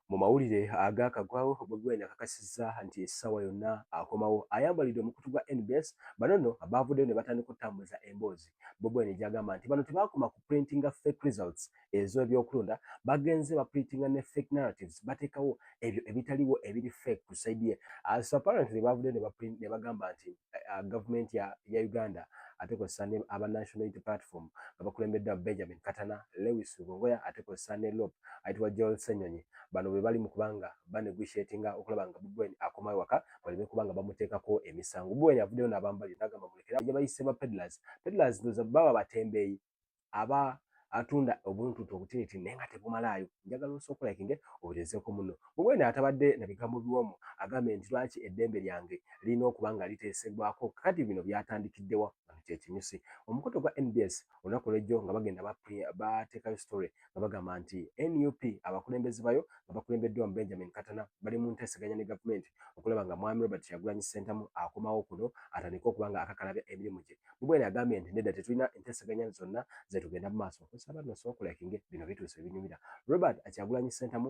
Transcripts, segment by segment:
Mu mawulire agaakagwawo, Bobi Wine akakasizza nti essaawa yonna akomawo. Ayambalidde omukutu gwa nbs, bano nno baavuddeyo ne batandika okutambuza emboozi Bobi Wine gy'agamba nti bano tebaakoma ku printinga fake results ez'ebyokulonda, bagenze baprintinga ne fake narratives, bateekawo ebyo ebitaliwo ebiri fake ku side ye as apparently baavuddeyo ne bagamba nti. uh, government ya, ya uganda ate kozesa ne aba national unity platform nga bakulembeddwa benjamin katana lewis lugongoya ate kozesa ne lop ayitibwa joel senyonyi bano be bali mu kubanga baneguishatinga okulaba nga bubwen akoma ewaka baleme kubanga bamuteekako emisango bubwen avuddeyo n'abambali nagamba mulekera gye bayise ba pedlers pedlers ndoza baba batembeeyi aba atunda obuntuntu obutiniti naye nga tebumalaayo njagala osooka olakinge obutezeeko muno bwewena atabadde na bigambo biwomu agambe nti lwaki eddembe lyange lirina okuba nga liteesebwako kati bino byatandikiddewa kyekinyusi omukutu gwa nbs olunaku lwejjo nga bagenda bateekayo story nga bagamba nti nup abakulembeze bayo nga bakulembeddwamu benjamin katana bali mu nteeseganya ne gavumenti okulaba nga mwami robert kyagulanyi ssentamu akomawo kuno atandike okuba nga akakalabya emirimu gye mubwene agambye nti nedda tetulina enteeseganya zonna zetugenda mu maaso nsaba nno sookulekinge bino bituuse ebinyumira robert akyagulanyi ssentamu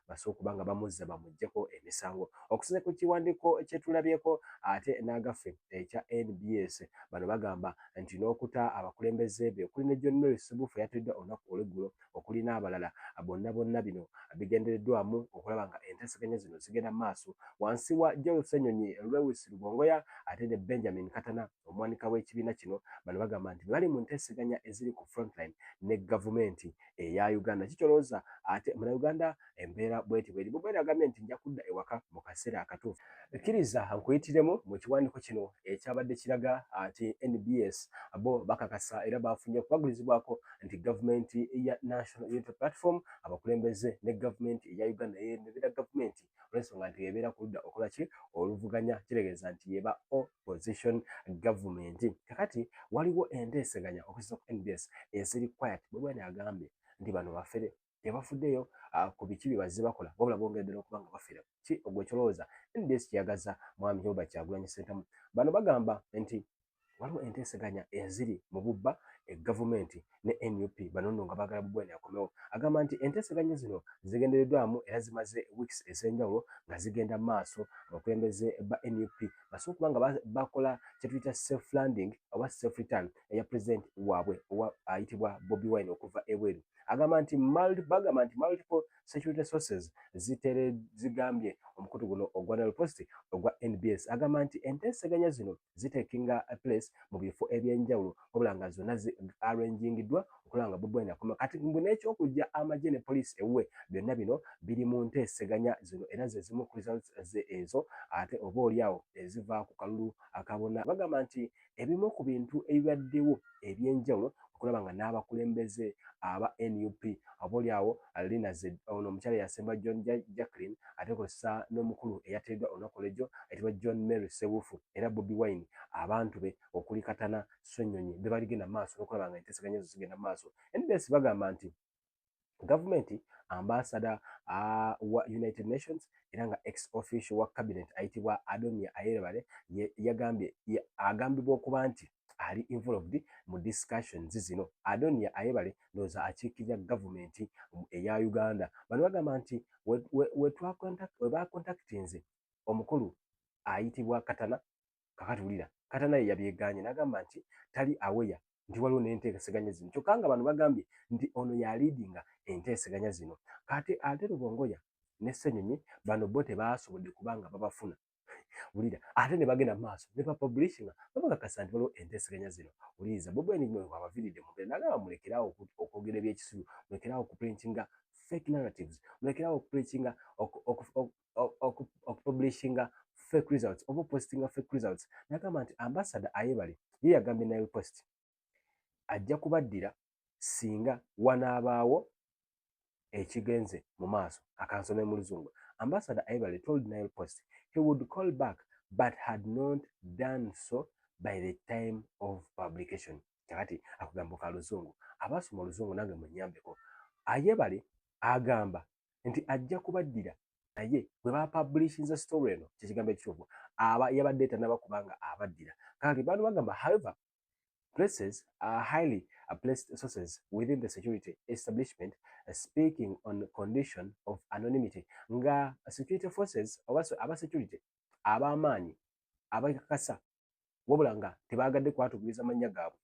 basobola okuba nga bamuzza bamugyeko emisango okusinza ku kiwandiiko kyetulabyeko ate n'agaffe ekya nbs bano bagamba nti n'okuta abakulembeze be okuli ne john mary subufu eyatiriddwa olunaku olweggulo okuli n'abalala bonna bonna bino bigendereddwamu okulaba nga enteeseganya zino zigenda maaso wansi wa joel senyonyi lewis lugongoya ate ne benjamin katana omuwanika w'ekibiina kino bano bagamba nti bali mu nteeseganya eziri ku frontline ne gavumenti eya Uganda kikyolooza ate muna Uganda embeera bweti bweri Bobi Wine agambye nti nja kudda ewaka mu kaseera akatuufu. Kkiriza nkuyitiremu mu kiwandiiko kino ekyabadde kiraga nti nbs bo bakakasa era baafunye okukwagulizibwako nti gavumenti ya National Unity Platform abakulembeze ne gavumenti eya Uganda eyeemebera gavumenti olw'ensonga nti y'ebeera ku ludda okola ki oluvuganya kitegeeza nti y'eba opposition government. Kakati waliwo enteeseganya okusinza ku nbs eziri quiet, Bobi Wine agambye nti bano bafere tebafuddeyo ah, ku biki bye bazze bakola wabula bongera ddala okuba nga bafere. Ki ogwe kyolowooza nbs kyeyagaza mwami Joba Kyagulanyi Ssentamu? Bano bagamba nti waliwo enteeseganya eziri mu bubba e gavumenti ne nup banono nga bagala bugwene akomewo agamba nti enteeseganya zino zigendereddwamu era zimaze weeks ez'enjawulo nga zigenda maaso abakulembeze ba nup basobola okuba nga bakola kyetuyita safe landing oba safe return eya pulezidenti waabwe owa ayitibwa bobi wine okuva ebweru agamba nti bagamba nti multiple security sources zitere zigambye omukutu guno ogwa nalpost ogwa nbs agamba nti enteeseganya zino zitekinga a place mu bifo ebyenjawulo wabula nga zonna zi arrangingiddwa okulaba nga Bobi Wine akoma kati mbu n'ekyokujja amagye ne poliisi ewuwe byonna bino biri mu nteeseganya zino era ze zimu ku results ze ezo ate oba oli awo eziva ku kalulu akabona bagamba nti ebimu ku bintu ebibaddewo ebyenjawulo okulaba nga n'abakulembeze aba nup abolyawo lina ze ono omukyala eyasemba john jacklin ate kosa n'omukulu eyateeddwa olunaku olwejjo ayitibwa john mary sebuufu era bobi wine abantu be okuli katana swenyonyi bebaligenda maaso n'okulaba nga enteseganya ezo zigenda maaso nbs bagamba nti gavumenti ambasada uh, wa united nations era nga ex official wa cabinet ayitibwa adonia ayerebale yagambye agambibwa okuba nti ali involved mu discussions zino adonia ayebale ndowooza akiikirira gavumenti eya uganda bano bagamba nti webakontaktinze omukulu ayitibwa katana kakati wulira kata naye yabyeganye nagamba nti tali aweya nti waliwo nenteeseganya zino kyokka nga bano bagambye nti ono yaliidinga enteeseganya zino kati ate lubongoya ne senyonyi bano bo tebaasobodde kubanga babafuna wulira ate ne bagenda mu maaso ne bapublishinga babakakasa nti waliwo enteeseganya zino wuliriza bobwenigmwe wabaviridde mubere nagamba mulekeraawo okwogera ebyekisiru mulekeraawo okuprintinga fake narratives mulekeraawo okuprintinga okupublishinga fake results oba opositinga fake results nagamba nti ambasada ayebale ye yagambye nail post ajja kubaddira singa wanaabaawo ekigenze mu maaso akansome mu luzungu ambasada ayebale told nail post he would call back but had not done so by the time of publication kakati akugambo ka luzungu abaasoma oluzungu nange munyambeko ayebale agamba nti ajja kubaddira naye bwe bapabulishinze story eno kyekigambo ekituufu aba yabadde tanaba kubanga abaddira kakati bantu bagamba however places are highly placed sources within the security establishment speaking on condition of anonymity nga security forces oba aba security ab'amaanyi abakakasa wabula nga tebaagadde kwatugiriza mannya gaabwe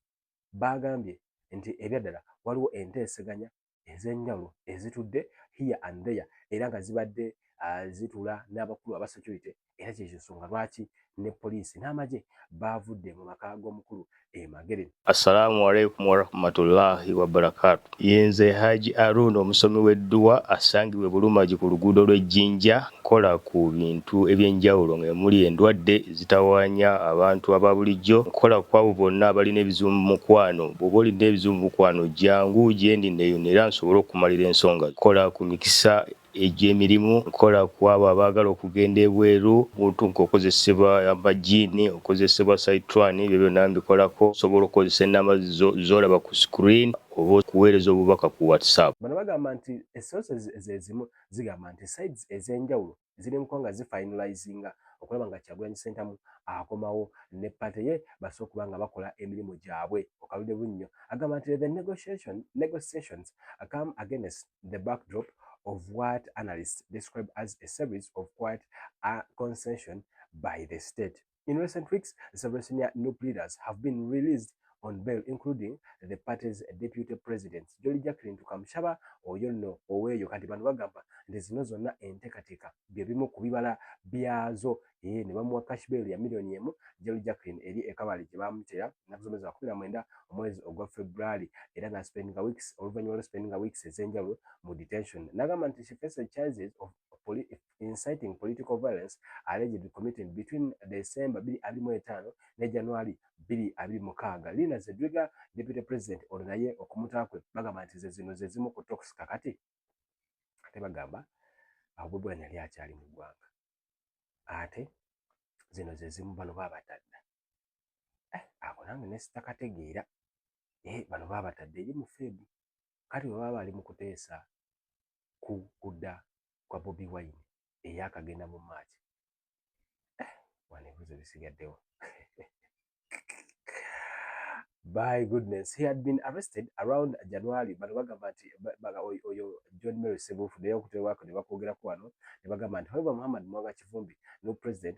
baagambye nti ebyaddala waliwo enteeseganya ez'enjawulo ezitudde here and there era nga zibadde uh, zitula n'abakulu aba security era kyekyo nsonga lwaki ne poliisi n'amagye baavudde mu maka g'omukulu emagere assalamu alaikum warahmatullahi wabarakatu yenze haji arundi omusomi w'edduwa asangibwe bulumagi ku luguudo lw'ejjinja Nkola ku bintu eby'enjawulo nga emuli endwadde ezitawaanya abantu aba bulijjo. Nkola ku abo bonna abalina ebizibu mu mukwano. Bw'oba olina ebizibu mu mukwano jjangu gyendi nneeyune era nsobole okukumalira ensonga zo. Nkola ku mikisa egy'emirimu. Nkola ku abo abaagala okugenda ebweru. Omuntu ng'okozesebwa amajjiini, okozesebwa sayitwani ebyo byonna mbikolako. Osobola okukozesa ennamba zo z'olaba ku screen oba okuweereza obubaka ku WhatsApp. Bano bagamba nti essozi ze zimu zigamba nti sides ez'enjawulo ziri mu kuba nga zifinalizinga okulaba nga Kyagulanyi Ssentamu akomawo ne pate ye basobola okuba nga bakola emirimu gyabwe. Okalude Bunnyo agamba nti the negotiation, negotiations come against the backdrop of what analysts describe as a series of quite a concession by the state. In recent weeks, several senior NUP leaders have been released on bail including the party's deputy president Jolly Jacqueline Tukamushaba oyo no oweyo kati bano bagamba nti zino zonna enteekateeka bye bimu ku bibala byazo ee ne bamuwa cash bail ya miliyoni emu Jolly Jacqueline eri ekabali gye baamutera ennaku zomwezi wa kumi na mwenda omwezi ogwa February era n'aspendinga weeks oluvannyuma lwa spendinga weeks ez'enjawulo mu detention n'agamba nti she faces charges of inciting political violence allegedly committed between December 2025 ne January 2026. Lina Zedriga, Deputy President ono naye okumuta kwe bagamba nti ze zino ze zimu ku talks kakati ate bagamba awo Bobi Wine yali akyali mu ggwanga ate zino ze zimu bano baabatadda eh, ako nange ne sitakategeera eh, bano baabatadde eri mu feebu kati bwe baba bali mu kuteesa ku kudda kwa Bobi Wine eyakagenda mu March. Eh, wano ebibuzo bisigaddewo. By goodness, he had been arrested around January bano bagamba nti oyo John Mary Sebuufu naye okutebwako ne bakwogerako wano ne bagamba nti however Muhammad Mwanga Kivumbi no president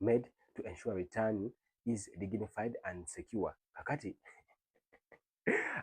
made to ensure return is dignified and secure kakati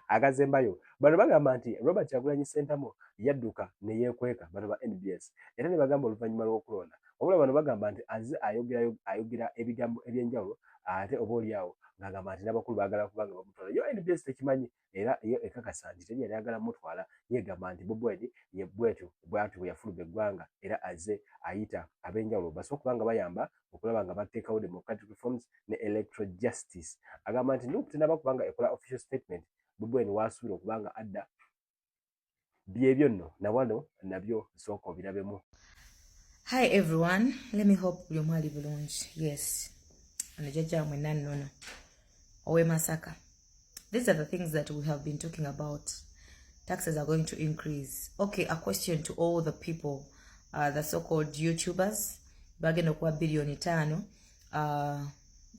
akazembayo bano bagamba nti robert kyagulanyi sentamu yadduka neyekweka bano ba nbs era ne bagamba oluvannyuma lw'okulonda wabula bano bagamba nti aze ayogera ebigambo ebyenjawulo ate oba olyawo ng'agamba nti n'abakulu baagala kubanga bamutwala yo nbs tekimanyi era ye ekakasa nti teri yali agala mutwala yegamba nti Bobi Wine ye bwetyo bwatyo bweyafuluba eggwanga era azze ayita abenjawulo basobola okuba nga bayamba okulaba nga bateekawo democratic reforms ne electoral justice. Agamba nti nup tenaba kuba nga ekola official statement Bobi Wine wasuubira okuba nga adda byebyo nno na wano nabyo nsooka obirabemu hi everyone let me hope buli omu ali bulungi yes ono jajja mwe nannono owe masaka these are the things that we have been talking about taxes are going to increase okay a question to all the people uh, the so called youtubers bagenda okuwa biliyoni taano uh,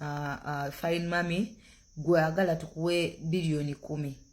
uh, uh, fine mummy gwe agala tukuwe biliyoni kumi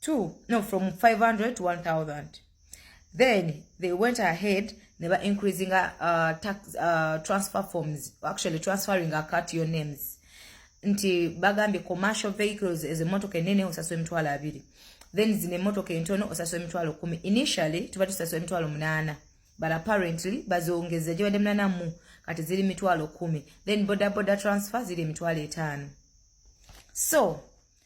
two no from 500 to 1000 then they went ahead they were increasing uh, tax, uh, transfer forms actually transferring akat your names nti bagambye commercial vehicles as a motor can nene osaso emitwalo abiri then zine motor can tono osaso emitwalo kumi initially tuba tusaso emitwalo munana but apparently bazongeze jibade munana mu kati zili mitwalo kumi then boda boda transfer zili mitwalo etano so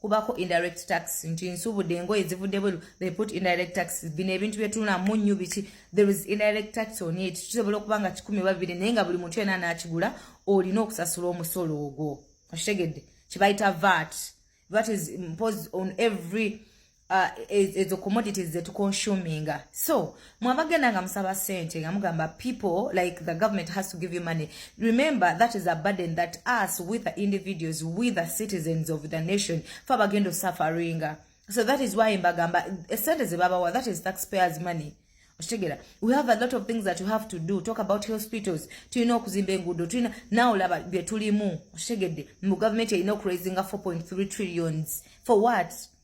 kubako indirect tax nti nsubude engoye zivudde bweru they put indirect tax bino ebintu byetulina munyu biki there is indirect tax on it kisobola okuba nga kikumi babiri naye nga buli muntu yena nakigula olina okusasula omusolo ogwo okitegedde kibayita vat vat is imposed on every uh, ezo commodities zetuconsuminga so mwabagenda nga musaba sente nga mugamba people like the government has to give you money remember that is a burden that us with the individuals with the citizens of the nation fe abagenda osuferinga so that is why mbagamba eh, sente zebabawa that is taxpayers money okitegera we have a lot of things that you have to do talk about hospitals tulina okuzimba enguudo tulina nawe olaba byetulimu okitegedde mu gavumenti erina okuraisinga 4.3 trillions for what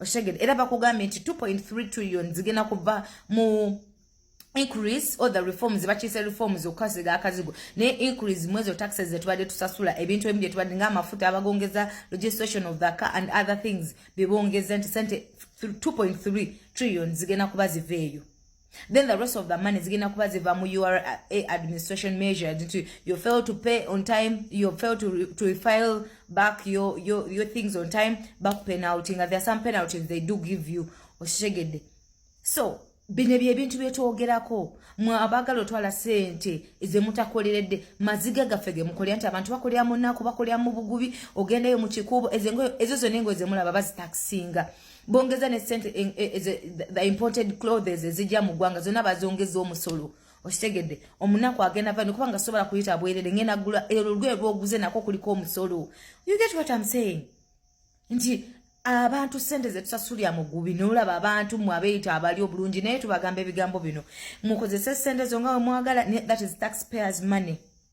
okitegede era bakugambye nti 2.3 trillion zigenda kuva mu increase or the reforms bakiise reforms okukasiga akazigo naye increase mwezi o taxes zetubadde tusasula ebintu ebimu byetubadde ng'amafuta abagongeza registration of the car and other things bebongeza nti sente 2.3 trillion zigenda kuba ziva eyo then the rest of the money zigenda kuba ziva mu ura eh, administration measures nti you fail to pay on time you fail to, re, to refile back your, your, your things on time back penalty nga there are some penalties they do give you okitegedde so bino byebintu byetwogerako mwe abagala otwala sente ezemutakoleredde maziga gaffe gemukolera nti abantu bakolera munaku bakolera mu bugubi ogendayo mu kikuubo ezo zona engo ezemulaba bazitakisinga bongeza ne sente eh, eh, eh, the imported clothes ezija mu gwanga zona bazongeza omusolo okitegedde omunaku agenda vani kubanga sobola kuyita bwerere ngenda gula ero lwe lwoguze nako kuliko omusolo you get what i'm saying nti abantu sente zetusasulya mugubi nolaba abantu mwe abeyita abali obulungi naye tubagamba ebigambo bino mukozese sente zonga wemwagala that is taxpayers money